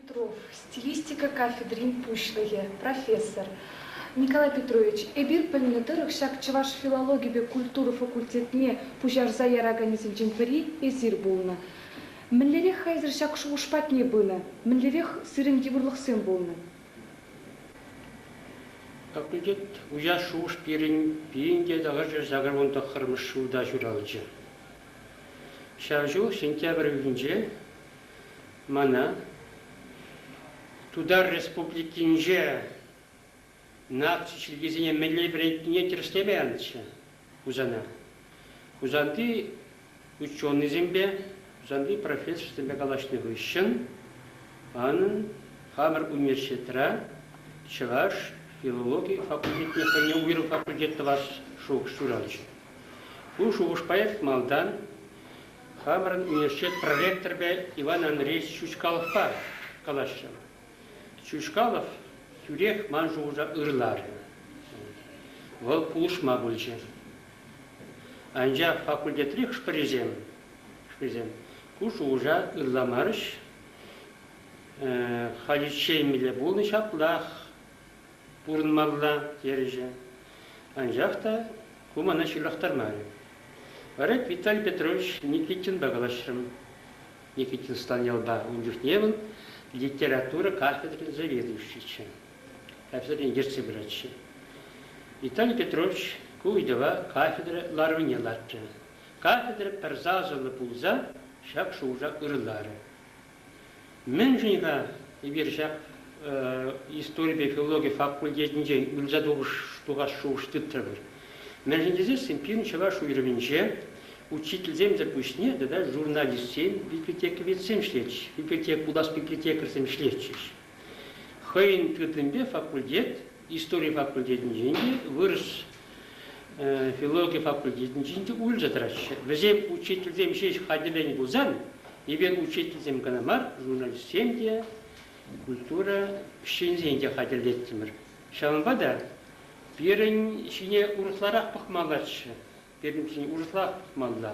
Петров, стилистика кафедрин пуҫлӑхӗ, профессор, Николай Петрович, эпир пӗлнӗ тӑрӑх ҫак чӑваш филологипе культура факультетне пуҫарса яраканӗсенчен пӗри эсир пулнӑ. Мӗнлерех-ха эсир ҫак шухӑш патне пынӑ? Мӗнлерех сирӗн йывӑрлӑхсем пулнӑ? Факультет уҫас шухӑш пирӗн пирӗн те тавӑрчӗ сакӑр вун тӑххӑрмӗш ҫулта ҫуралчӗ. Ҫав ҫул сентябрь уйӑхӗнче Мана Тутар Республикинче наци чиркӳсене мӗнле вӗрентнине тӗрӗслеме анчӗ Хусана. Хусанти ученӑйсемпе, Хусанти профессорсемпе калаҫнӑ хыҫҫӑн манӑн хамӑр университетра чӑваш филологи факультетне хӑйне уйрӑм факультет тӑвас шухӑш ҫуралчӗ. Ку шухӑшпа эп малтан Хамӑрӑн университет проректорӗпе Иван Андреевич Чучкаловпа калаҫрӑм. Чучкалов тӳрех ман шухӑша ырларӗ. Вӑл пулӑшма пулчӗ. Анчах факультетри хӑш-пӗрисем хӑшпӗрисем ку шухӑша ырламарӗҫ. Халиччен мире пулнӑ ҫаплах. пурӑнмалла терӗҫӗ. Анчах та ку мана ҫырлахтармарӗ. Вара Виталий Петрович Никитинпа калаҫрӑм. Никитинстан ялпа ун чухне вӑл литература кафедрин заведующийччӗ. Кафедрин ертсе пыратчӗ. Виталий Петрович ку ыйтӑва кафедра ларӑвне лартрӗ. Кафедра пӗр сасӑллӑ пулса ҫак шухӑша ырӑларӗ. Мӗншӗн-ха эпир ҫак историпе филологи факультетӗнчен ырса тухас шухӑш тытрӑмӑр? Мӗншӗн тесессӗн пирӗн чӑваш уйрӑмӗнче учительсемсӗр пуҫне тата журналистсем, библиотековедсем ӗҫлетчӗҫ, библиотек пулас библиотекарьсем ӗҫлетчӗҫ. Хӑйӗн тытӑмӗпе факультет истори факультетӗнчен те, вырӑс филологи факультетӗнчен те улшӑн тӑраҫҫӗ. Вӗсем учительсем ҫеҫ хатӗрленӗ пулсан, эпир учительсем кӑна мар, журналистсем те, культура ӗҫченӗсен те хатӗрлеттӗмӗр. Ҫавӑнпа та пирӗн ҫине урӑхларах пӑхмаллаччӗ. Пирӗн ҫын урӑхлах тупмалла.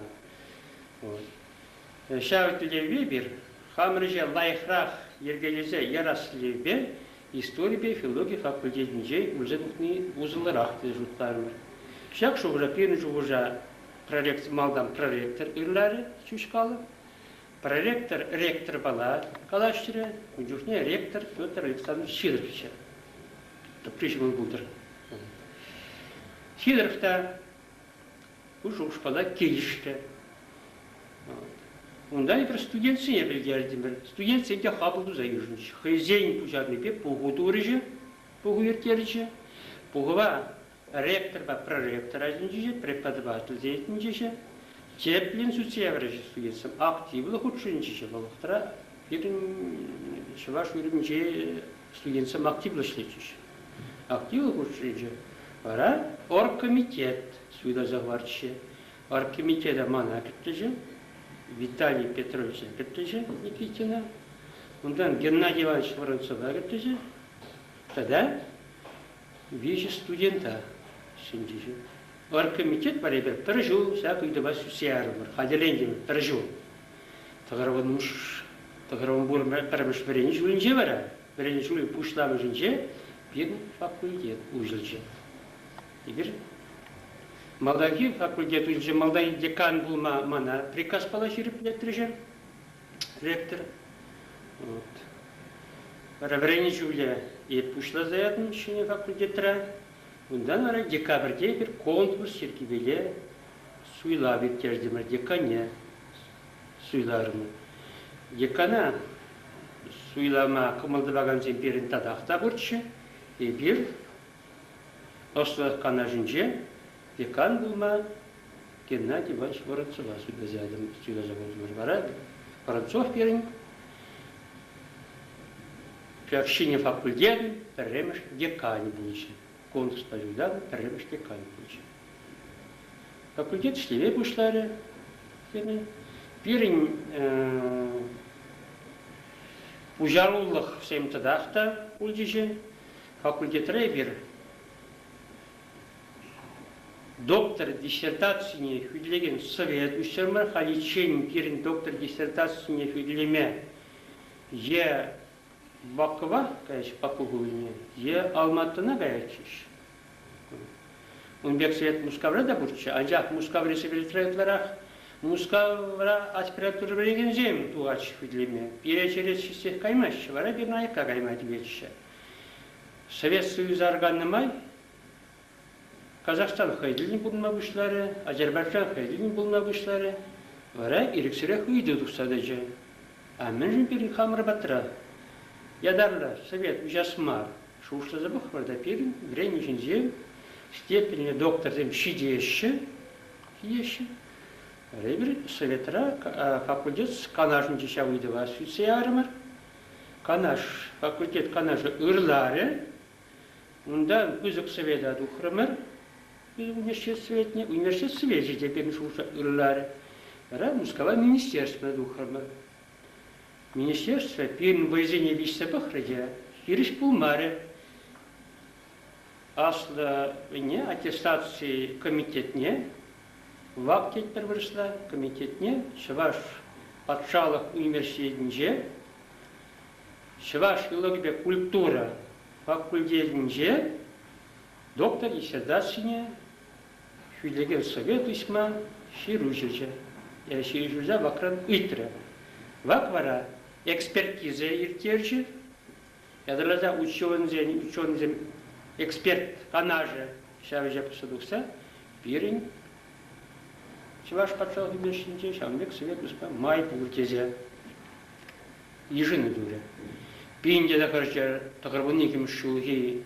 Ҫав тӗллевпе эпир хамӑр ӗҫе лайӑхрах йӗркелесе ярас тӗллевпе историпе филологи факультетӗнче ӳлсе тухни усӑллӑрах тесе шутларӑмӑр. Ҫак шухӑша пирӗн шухӑша проректор малтан проректор ырларӗ Чучкалов. Проректор ректорпала калаҫрӗ, ун чухне ректор Петр Александрович Ҫирӗпчӗ. тӑпри ҫӑмӑл пултӑр. Сидоров та пушӑ ушкӑна килӗшрӗ. Унта эпир студентсене пӗлтертӗмӗр. Студентсем те хапӑл туса йышӑнчӗҫ. Хӑйсен пуҫарнипе пуху турӗҫӗ, пуху ирттерчӗ. Пухӑва ректорпа проректор ӗҫӗнче, преподавательсен ӗҫӗнче, тӗплӗн сутеврҫӗсем активлӑ хутшӑнчӗҫ вӑл вӑхӑтра пирӗн чӑваш уйрӑмӗнче студентсем активлӑ ӗҫлетчӗҫ. Активлӑ хутшӑнчӗ. Вара оргкомитет суйласа хӑварчӗ. Оргкомитета мана кӗрттӗчӗ, Виталий Петровича кӗрттӗчӗ Никитина. Унтан Геннадий Иванович Воронцова кӗрттӗчӗ. Тата Виҫӗ студента ҫӗнчӗҫӗ. Оргкомитет вара эпир пӗр ҫул ҫак ыйтӑва сӳтсе ярӑпӑр. Хатӗрлентӗмӗр пӗр ҫул. Тӑкӑрвӑнуш, Тӑкӑрвӑнпур пӗрремӗш вӗренӳ ҫулӗнче вара, вӗренӳ ҫулӗн пуҫламӑшӗнче пирӗн факультет уҫӑлчӗ. Эпир малтанхи факультет уҫӑлчӗ. Малти декан пулма мана приказ пала ҫирӗплетрӗҫӗр. Лектор. Вот. Реврени ҫулӗ пуҫласа ятӑм ҫӗнӗ факультетра. Унтан вара декабрьте бир конкурс йӗркипеле суйлав ирттертӗмӗр декане суйларӑмӑр. Декана суйлама кӑмӑл тӑвакансем пирӗн татах та пурччӗ. Эпир ӑслӑх канашӗнче Декан пулма Геннадий Иванович Воронцова суйласа ятӑм, суйласа пултӑмӑр. Вара Воронцов пирӗн общини факультетӗн пӗрремӗш деканӗ пулӑшӗ. Конкурспа юлташӑм пӗрремӗш деканӗ пулӑшӗ. Факультет ӗҫлеме пуҫларӗ. Пирӗн пуҫарулӑх всем тӑтах та пулчӗҫ. Факультетра эпир Доктор диссертацине хӳтӗлекен совет уҫтарма, халиччен пирӗн доктор диссертацине хӳтӗлеме е Бакӑва каяҫҫӗ, Баку хулине, е Алматӑна каятчӗҫ. Ун пек совет Мускавра та пурччӗ, анчах Мускаври секретаря ытларах Мускавра аспирантура вӗренекенсем тухатчӗ хӳтӗлеме. Пире черет ҫитсех каймаҫҫӗ, вара пирӗн аякка кайма тиветчӗ. Совет Союза арканнӑ май Казахстан хӑй тӗллӗн пурӑнма пуҫларӗ, Азербайджан хӑй тӗллӗн пурӑнма пуҫларӗ, вара ирӗксӗрех ыйту тухса тӑчӗ. А мӗншӗн пирӗн хамӑр патра ятарлӑ совет уҫас мар? Шухӑшласа пӑхӑр та пирӗн вӗренӳ ҫинче степеньлӗ докторсем ҫитеҫҫӗ, ҫитеҫҫӗ. Вара эпир советра факультет канашӗнче ҫав ыйтӑва сӳтсе ярӑмӑр. Канаш, факультет канашӗ ырларӗ, Унта пысӑк света тухрӑмӑр. Университетне, университечӗ те пирӗн шухӑша ырларӗ. Вара Мускава министерство тухрӑмӑр. Министерство пирӗн вӑйсене виҫсе пӑхрӗ те хирӗҫ пулмарӗ. Аслӑне аттестаци комитетне вак тетпӗр вырӑсла комитетне Чӑваш патшалӑх университетӗнче Чӑваш филологипе культура факультетӗнче доктор диссертацине хӳтӗлекен совет уҫма ҫыруҫӑҫӑ, ҫыруҫа вакран ыйтрӗ. Вак вара экспертиза ирттерчӗ. Ятарласа ученӑйсен, ученӑйсен эксперт канашӗ ҫавӑҫа пырса тухса пирӗн Чӑваш патшалӑх ӳнерҫинче ҫавӑн пек совет уҫма май пур тесе йышӑну турӗ. Пин те тӑхӑрҫӗр тӑхӑрвун иккӗмӗш ҫулхи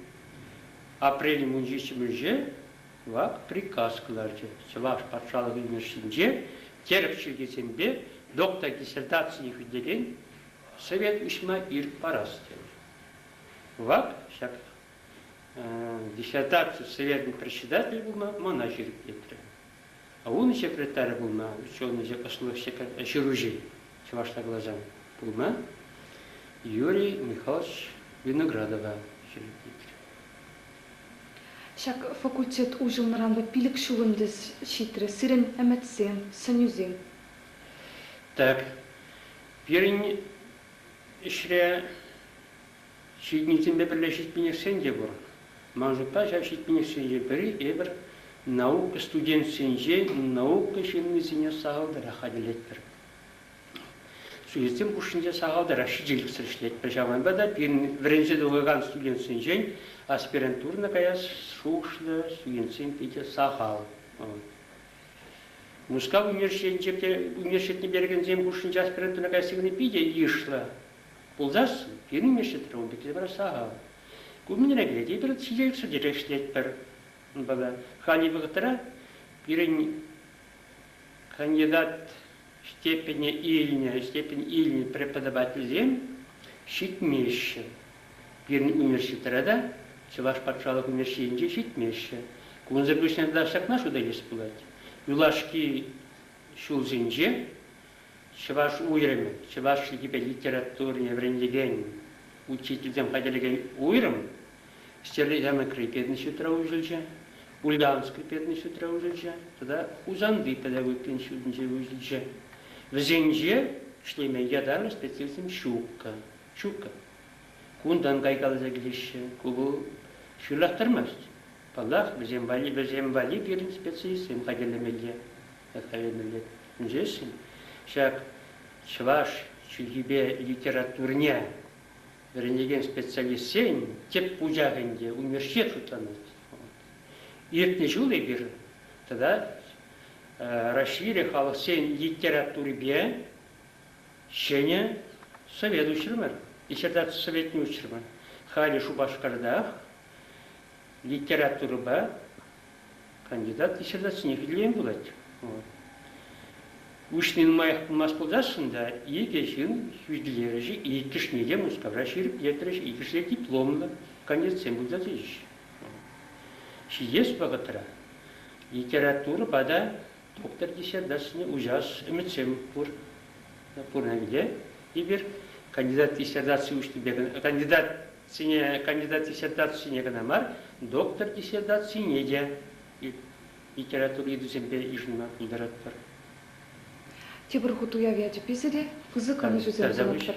апрель мунчиччӗмӗнче вак приказ кӑларчӗ. Чӑваш патшалӑх ӳнерҫинче терӗп чиркӳсемпе доктор диссертацине хӳтӗлен совет уҫма ирӗк парас тенӗ. Вак ҫак диссертаци советӑн председатель пулма мана ҫирӗплетрӗ. Ун секретарӗ пулнӑ, ученӑҫӗ, ӑслӑ ҫыруҫи, чӑвашла каласан, пулнӑ Юрий Михайлович Виноградова ҫирӗплетрӗ. Ҫак факультет уҫӑлнӑранпа пилӗк ҫул ӗнтӗ ҫитрӗ сирӗн ӗмӗтсем, сӗнӳсем. Так, пирӗн ӗҫре Ҫитӗннисемпе пӗрле ҫитменешсен те пур. Ман шутпа, ҫав ҫитменешсенчен пӗри эпир наука студенчӗсенчен наукӑ ҫыннисене сахалтарах хатӗрлетпӗр. Студентсем хушшинче сахалтарах ҫителӗксӗр ӗҫлетпӗр. Ҫавӑнпа та пирӗн вӗренсе тухакан студентсенчен аспирантурӑна каяс шухӑшлӑ студентсем питӗ сахал. Мускав университетӗнче те университетне перекенсем хушшинче аспирантура каясси кӑна питӗ йышлӑ. Пулсассӑн пирӗн ӗҫсӗр ун пекки пулать сахал. Ку мӗнре те тепӗр сиен сӗтӗре ӗҫлетпӗр. Унпала хальхи вӑхӑтра пирӗн кандидат степене илнӗ, степень илнӗ преподавательсем ҫитмеҫҫӗ. Пирӗн университетра та, Чӑваш патшалӑх университетӗнче ҫитмеҫҫӗ. Кунсӑр пуҫне тата ҫакна шута илес пулать. Юлашки ҫулсенче Чӑваш уйрӑмӗ, чӑваш чӗлхипе литературине вӗрентекен, учительсем хатӗрлекен уйрӑм, Ҫтерлӗ Ҫамрӑкри пединститутра уҫӑлчӗ, Ульяновскри пединститутра уҫӑлчӗ тата Хусанти педагогикин ҫутинче уҫӑлчӗ. Вӗсенче ӗҫлеме ятарлӑ специалистсем ҫуккӑ. Ҫуккӑ. Кунтан кайкаласа килеҫҫӗ. Ку вӑл ҫырлахтармасть. Паллах, вӗсем валли вӗсем валли пирӗн специалистсем хатӗрлемелле. достовернӑй ӗненсессӗн ҫак чӑваш чӗлхипе литературине вӗренекен специалистсен тӗп пучахӗ ӗнтӗ университет шутланать. Иртнӗ ҫул эпир тата Раҫҫейри халӑхсен литературипе ҫӗнӗ совет уҫрӑмӑр, диссертаци советне уҫрӑмӑр. Халӗ Шупашкартах литературӑпа Кандидат диссертацине хӳтӗлемен пулать. Уҫни нумаях пулмасть пулсассӑн та икӗ ҫын хӳтӗлерӗҫ, иккӗшне те Мускавра ҫирӗплетрӗҫ, иккӗшне дипломлӑ кандидатсем пулса тӑчӗҫ. Ҫитес вӑхӑтра литературӑпа та доктор диссертацине уҫас ӗмӗтсем пур. Пурне те. Эпир кандидат диссертаци уҫнипе кандидат Ҫӗнӗ кандидат диссертацине кӑна мар, доктор диссертацине те литература ыйтусемпе йышӑнма пултаратпӑр. Тепӗр хут уяв ячӗпе сире пысӑк ӑнӑҫусем сунатпӑр.